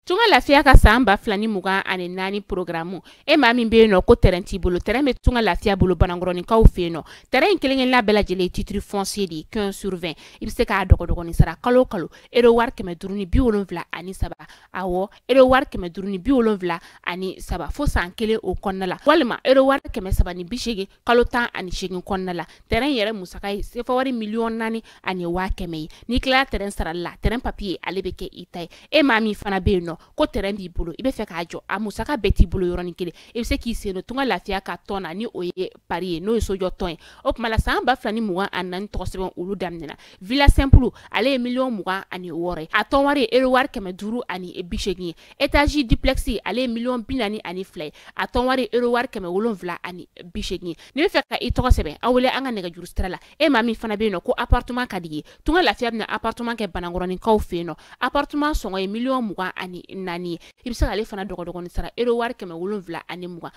Tunga lafiya ka san ba fila ni mugan ani naani porogaramu e maa min bɛ yen nɔ ko tɛrɛn t'i bolo tɛrɛn bɛ tunga lafiya bolo banankɔrɔninkaw fɛ yen nɔ tɛrɛn in kelen-kelenna bɛɛ lajɛlen titiri fɔnsiye de ye quinze sur vingt i bɛ se k'a dɔgɔdɔgɔnin sara kalo o kalo ero wari kɛmɛ duuru ni bi wolonwula ani saba awɔ ero wari kɛmɛ duuru ni bi wolonwula ani saba fo san kelen o kɔnɔna la walima ero wari kɛmɛ saba ni bi seegin kalo tan ani segin kɔnɔna la tɛrɛn yɛrɛ musaka ye sefa wari miliyɔn naani ani waa kɛmɛ ye n'i tilala tɛrɛn sarali la tɛrɛn papiye ale bɛ kɛ i ta ye e maa min fana bɛ yen nɔ ko tɛrɛn b'i bolo i bɛ fɛ k'a jɔ a musaka bɛɛ t'i bolo yɔrɔnin kelen i bɛ se k'i sen don tunga lafiya ka tɔn na ni o ye pari ye n'o ye sojɔ tɔn ye o tuma la san ba fila ni mugan ani naani tɔgɔ sɛbɛn olu daminɛna villa simple ale ye miliyɔn mugan ani wɔɔrɔ ye a tɔn wari ye euro wari kɛmɛ duuru ani bi seegin ye étage duplex ale ye miliyɔn bi naani ani fila ye a tɔn wari ye euro wari kɛmɛ wolonwula ani bi seegin ye n'i bɛ fɛ ka i tɔgɔ sɛbɛn an wele an ka nɛgɛjuru sira la e maa min fana bɛ yen nɔ ko appartement ka di i ye tunga lafiya bɛna appartement kɛ banankɔrɔninkaw fɛ yen nɔ appartement sɔngɔ ye miliyɔn mugan ani naani ye i bɛ se k'ale fana dɔgɔdɔgɔnin sara euro wari kɛmɛ wolonwula ani mugan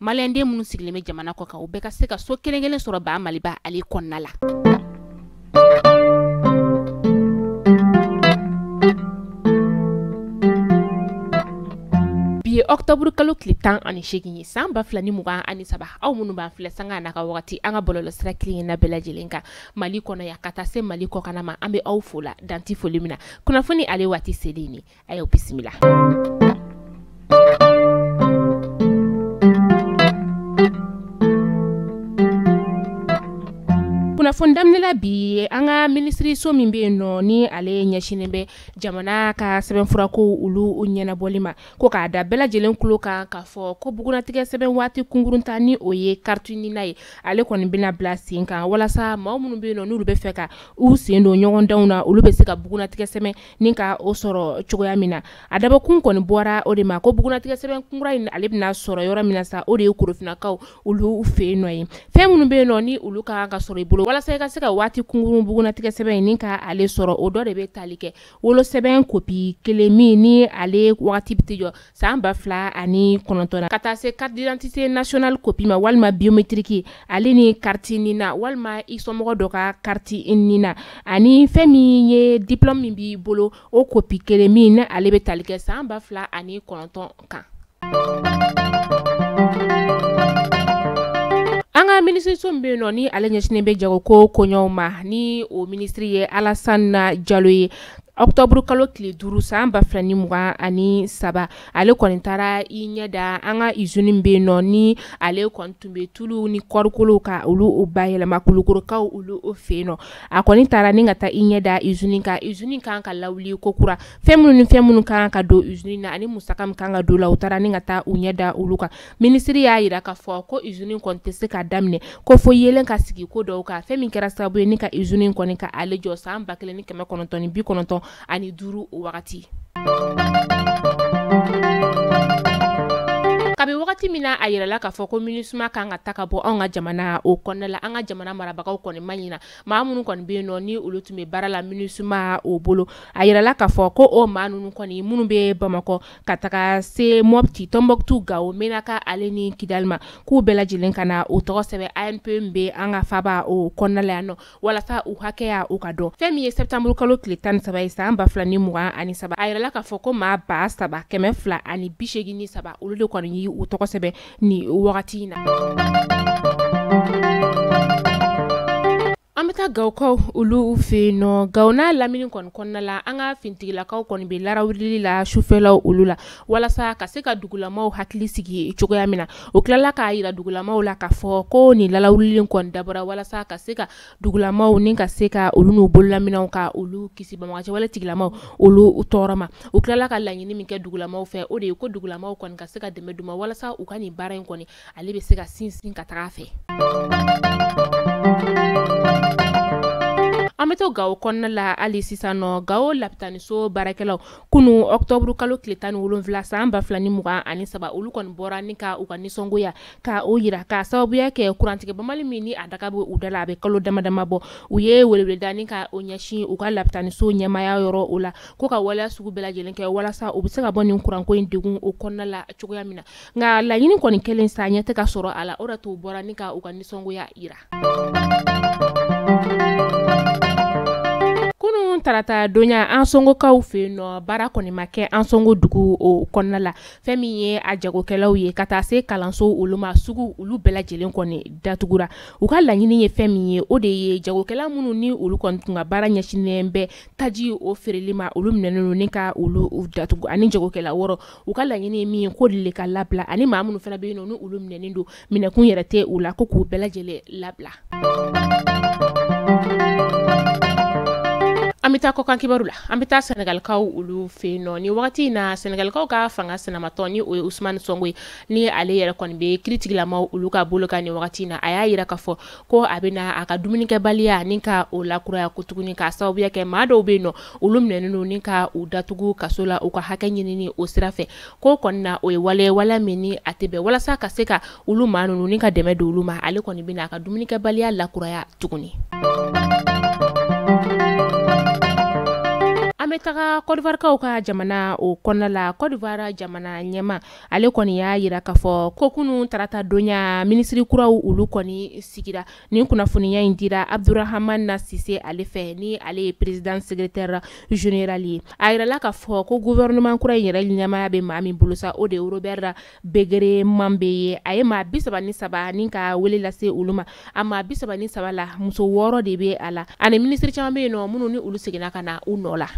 maliyɛnden minnu sigilen bɛ jamana kɔ kan u bɛɛ ka se ka so kelen kelen sɔrɔ baa maliba ale kɔnɔna la bi ye ɔktɔburu kalo tile tan ani seegin ye san ba fila ni mugan ani saba aw minnu b'an filɛ sanga n'a ka wagati an ka bɔlɔlɔ sira kelen-kelenna bɛɛ lajɛlen kan mali kɔnɔ yan ka taa se mali kɔkanna ma an bɛ aw fo la dan tɛ foli min na kunnafoni ale waati selen ye a y'aw bisimila kunnafoni daminɛla bi an ka minisiriso min bɛ yen nɔ ni ale ɲɛsinnen bɛ jamana ka sɛbɛnfurako olu ɲɛnabɔli ma ko k'a da bɛɛ lajɛlen tulo kan k'a fɔ ko bugunnatigɛ sɛbɛn waati kunkurunta ni o ye kariti nina ye ale kɔni bɛna bila sen kan walasa maa minnu bɛ yen nɔ n'olu bɛ fɛ ka u sen don ɲɔgɔndanw na olu bɛ se ka bugunnatigɛ sɛbɛn nin ka o sɔrɔ cogoya min na a dabɔkun kɔni bɔra o de ma ko bugunnatigɛ sɛbɛn kunkurun in ale bɛna sɔrɔ yɔrɔ min na sa o de ye korofinakaw olu fɛ nɔ ye fɛn minnu bɛ yen nɔ ni olu ka kan ka sɔrɔ i bolo walasa i ka se ka waati kunkurun bugunnatigɛ sɛbɛn in nin ka ale sɔrɔ o dɔ de bɛ taali kɛ wolosɛbɛn kopi kelen min ni ale waati bɛ t'i jɔ san ba fila ani kɔnɔntɔn ka taa se carte d'identité nationale kopi ma walima biometriki ale ni kariti nina walima i somɔgɔ dɔ ka kariti nina ani fɛn min ye diplɔme min b'i bolo o kopi kelen min ni ale bɛ tali kɛ san ba fila ani kɔnɔntɔn kan an ka minisiriso min bɛ yen nɔ ni ale ɲɛsinnen bɛ jagoko koɲɛw ma ni o minisiri ye alasana jalo ye Ɔktɔburu kalo tile duuru san ba fila ni mugan ani saba ale kɔni taara i ɲɛ da an ka izini bɛ yen nɔ ni ale kɔni tun bɛ tulu ni kɔɔrikolo ka olu u bayɛlɛma kulukɔrɔkaw olu o fɛ yen nɔ a kɔni taara ni ka taa i ɲɛ da izini kan izini kan ka lawuli kokura fɛn minnu ni fɛn minnu kan ka don izini na ani musaka min kan ka don la u taara ni ka taa u ɲɛ da olu kan Minisiri y'a jira k'a fɔ ko izini kɔni tɛ se ka daminɛ ko fo yeelen ka sigi ko dɔw kan fɛn min kɛra sababu ye ni ka izini kɔni ka ale jɔ san ba kelen ni kɛmɛ kɔnɔntɔn ni bi kɔnɔntɔn ani duuru wagati. kabi wagati min na a yirala k'a fɔ ko minisuma kan ka ta ka bɔ anw ka jamana o kɔnɔna la an ka jamana marabagaw kɔni ma ɲina maa minnu kɔni bɛ yen nɔ ni olu tun bɛ baara la minisuma o bolo a yirala k'a fɔ ko o maa ninnu kɔni minnu bɛ bamakɔ ka taga se mɔpti tɔnbuktu gawo menaka ale ni kidali ma k'u bɛɛ lajɛlen ka na u tɔgɔ sɛbɛn ANPE min bɛ an ka faba o kɔnɔnala yan nɔ walasa u hakɛya o ka dɔn fɛn min ye sɛtanburu kalo tile tan ni saba ye san ba fila ni mugan ani saba a yirala k'a fɔ ko maa ba saba kɛmɛ fila ani bisegin ni saba olu de kɔni y'u tɔgɔ sɛbɛn ni wagati in na An bɛ taa gawokaw olu fɛ yen nɔ gawo n'a lamini kɔni kɔnɔna la an ka finitigilakaw kɔni bɛ laara wulili la sufɛlaw olu la walasa ka se ka dugulamaw hakili sigi cogoya min na o tilala k'a jira dugulamaw la ka fɔ ko nin laara wulili kɔni dabɔra walasa ka se ka dugulamaw ni ka se ka olu n'u bololaminɛnw ka olu kisi banbaganciwale tigilamaw olu u tɔɔrɔ ma u tilala ka laɲini min kɛ dugulamaw fɛ o de ye ko dugulamaw kɔni ka se ka dɛmɛ don u ma walasa u ka nin baara in kɔni ale bɛ se ka sinsin ka taga a fɛ an bɛ to gawo kɔnɔna la hali sisan nɔ gawo lapitaniso baarakɛlaw kunun ɔktɔburu kalo tile tan ni wolonwula san ba fila ni mugan ani saba olu kɔni bɔra ni ka u ka nisɔngoya ka o yira ka sababuya kɛ kurantigɛ banbali min ni a daga bɛ u da la a bɛ kalo dama dama bɔ u ye weleweleda ni ka o ɲɛsin u ka lapitaniso ɲɛmaaya yɔrɔ o la ko ka waleya sugu bɛɛ lajɛlen kɛ walasa u bɛ se ka bɔ nin kuranko in degun o kɔnɔna la cogoya min na nka laɲini kɔni kɛlen sa ɲɛ tɛ ka sɔrɔ a la o d'a to u bɔra ni ka u ka nisɔngoya jira kunun tarata donya ansɔngokaw fɛ yen nɔ baara kɔni ma kɛ ansɔngo dugu o kɔnɔna la fɛn min ye a jagokɛlaw ye ka taa se kalanso olu ma sugu olu bɛɛ lajɛlen kɔni datugura u ka laɲini ye fɛn min ye o de ye jagokɛla minnu ni olu kɔni tun ka baara ɲɛsinnen bɛ taji o feereli ma olu minɛnen don ni ka olu u datugu ani jagokɛla wɔɔrɔ u ka laɲini ye min ye ko de ka labila ani maa minnu fana bɛ yen nɔ ni olu minɛnen don minɛkun yɛrɛ tɛ u la ko k'u bɛɛ lajɛlen labila an bɛ taa kɔkan kibaru la an bɛ taa senegalikaw olu fɛ yen nɔ ni wagati in na senegalikaw ka fanga sinamatɔn ni o ye usumani sɔnko ye ni ale yɛrɛ kɔni bɛ kiritigilamaw olu ka bolo kan nin wagati in na a y'a jira ka fɔ ko a bɛna a ka dumunikɛbaliya ni ka o lakuraya ko tuguni k'a sababuya kɛ maa dɔw bɛ yen nɔ olu minɛnen don ni ka u datugu kaso la u ka hakɛ ɲinini o sira fɛ ko kɔni na o ye wale ye waleya min ni a tɛ bɛn walasa ka se ka olu maa ninnu ni ka dɛmɛ don olu ma ale kɔni bɛna a ka dumunikɛbaliya lakuraya tuguni. an bɛ taga kɔdiwarikaw ka jamana o kɔnɔna la kɔdiwari jamana ɲɛmaa ale kɔni y'a yira k'a fɔ ko kunun tarata donya minisiri kuraw olu kɔni sigira nin kunnafoniya in dira abdourahmane cissé ale fɛ ni ale ye président secrétaire général ye a yirala k'a fɔ ko gouvernement kura in yɛrɛ ɲɛmaaya bɛ maa min bolo sa o de ye robert beugré mambé ye a ye maa bi saba ni saba ni ka wele lase olu ma a maa bi saba ni saba la muso wɔɔrɔ de bɛ a la ani minisiri caman bɛ yen nɔ minnu ni olu seginna ka na u nɔ la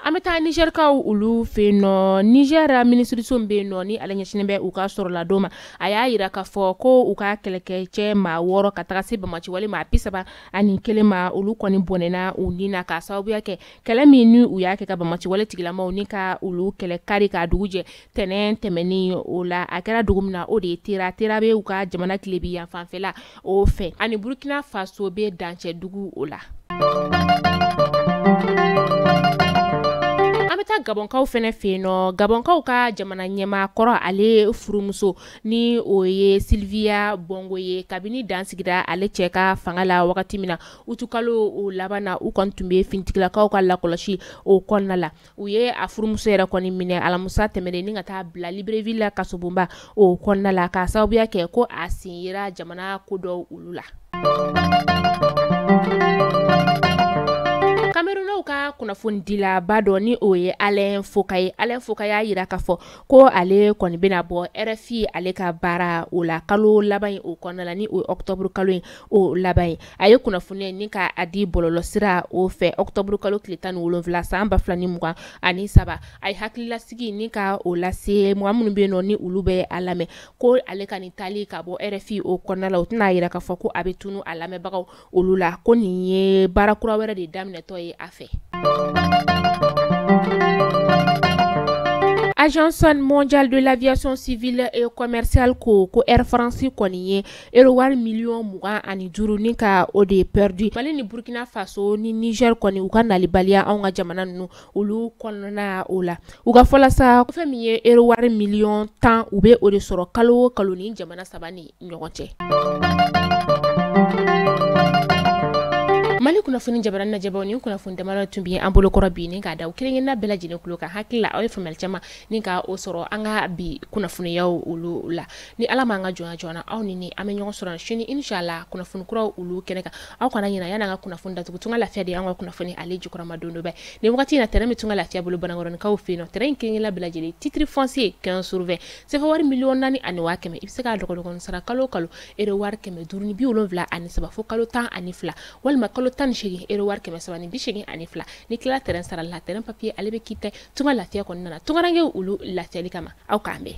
an bɛ taa nizɛrikaw olu fɛ yen nɔ nizɛri minisiriso min bɛ yen nɔ ni ale ɲɛsinnen bɛ u ka sɔrɔladon ma a y'a yira k'a fɔ ko u ka kɛlɛkɛcɛ maa wɔɔrɔ ka taga se bamaci wale maa bi saba ani kelen ma olu kɔni bɔnɛna u ni na k'a sababuya kɛ kɛlɛ min ni u y'a kɛ ka bamaci wale tigilamaw ni ka olu kɛlɛ kari ka dugu jɛ tɛnɛn tɛmɛnen o la a kɛra dugu min na o de ye tera tera bɛ u ka jamana tilebin yanfanfɛla o fɛ ani burukina faso bɛ dancɛ dugu o la an bɛ taa gabɔnkaw fɛnɛ fɛ yen nɔ gabɔnkaw ka jamana ɲɛmaa kɔrɔ ale furumuso ni o ye sylvia bongo ye kabini dan sigira ale cɛ ka fanga la wagati min na utukalo o laban na u kɔni tun bɛ finitigilakaw ka lakɔlɔsi o kɔnɔna la u ye a furumuso yɛrɛ kɔni minɛ alamusa tɛmɛnen ni ka taa bila libreville la kasobonba o kɔnɔna la k'a sababuya kɛ ko a sen yera jamana ko dɔw olu la kamerunaw ka kunnafonidilaba dɔ ni o ye alain foka ye alain foka y'a yira k'a fɔ ko ale kɔni bɛna bɔ rfi ale ka baara o la kalo laban o kɔnɔna la ni o ye ɔktɔburu kalo ye o laban ye a ye kunnafoniya ni ka a di bɔlɔlɔsira o fɛ octobre kalo tile tan ni wolonwula san ba fila ni mugan ani saba a ye hakililasigi ni ka o lase mɔgɔ minnu bɛ yen nɔ ni olu bɛ a lamɛn ko ale ka nin taali ka bɔ rfi o kɔnɔna la o tɛna a yira k'a fɔ ko a bɛ tunu a lamɛnbagaw olu la ko nin ye baara kura wɛrɛ de daminɛtɔ ye a fɛ agence mondiale de l'aviation civile et commerciale ko ko air france kɔni ye Wari miliyɔn mugan ani duuru ni ka o de pɛridi mali ni burukina faso ni nizɛri kɔni u ka nalibaliya an ka jamana ninnu olu kɔnɔna o la u ka fɔ la sa fɛn min ye ero wari miliyɔn tan u bɛ o de sɔrɔ kalo o kalo nin jamana saba nin ɲɔgɔn cɛ mali kunnafoni jabaranin lajɛbaw nin kunnafoni dama tun bɛ an bolokɔrɔ bi ni k'a da aw kelen kelenna bɛɛ lajɛlen tulo kan hakilila aw ye faamuyali caman ni ka o sɔrɔ an ka bi kunnafoniyaw olu la ni ala m'an ka jɔnya jɔ aw ni an bɛ ɲɔgɔn sɔrɔ sini inshallah kunnafoni kuraw olu kɛnɛ kan aw kana ɲina yan'an ka kunnafoni datugu tunga lafiya de y'an ka kunnafoni ale jukɔrɔmadondonba ye nin wagati in na tɛrɛn bɛ tunga lafiya bolo banankɔrɔnikaw fɛ yen nɔ tɛrɛn in kelenkelen bɛɛ lajɛlen titre foncier 15 sur 20 sefa wari miliyɔn naani ani waa kɛmɛ i bɛ se k'a dɔgɔdɔgɔnin sara kalo o kalo euro wari kɛmɛ duuru ni bi wolonwula ani saba fo kalo tan ani fila walima kalo tan ni seegin euro wari kɛmɛ saba ni bi seegin ani fila n'i tilala tɛrɛn sarali la tɛrɛn papiye ale bɛ k'i tɛgɛ tunga lafiya kɔni nana tungarankew olu lafiyali kama aw k'an bɛn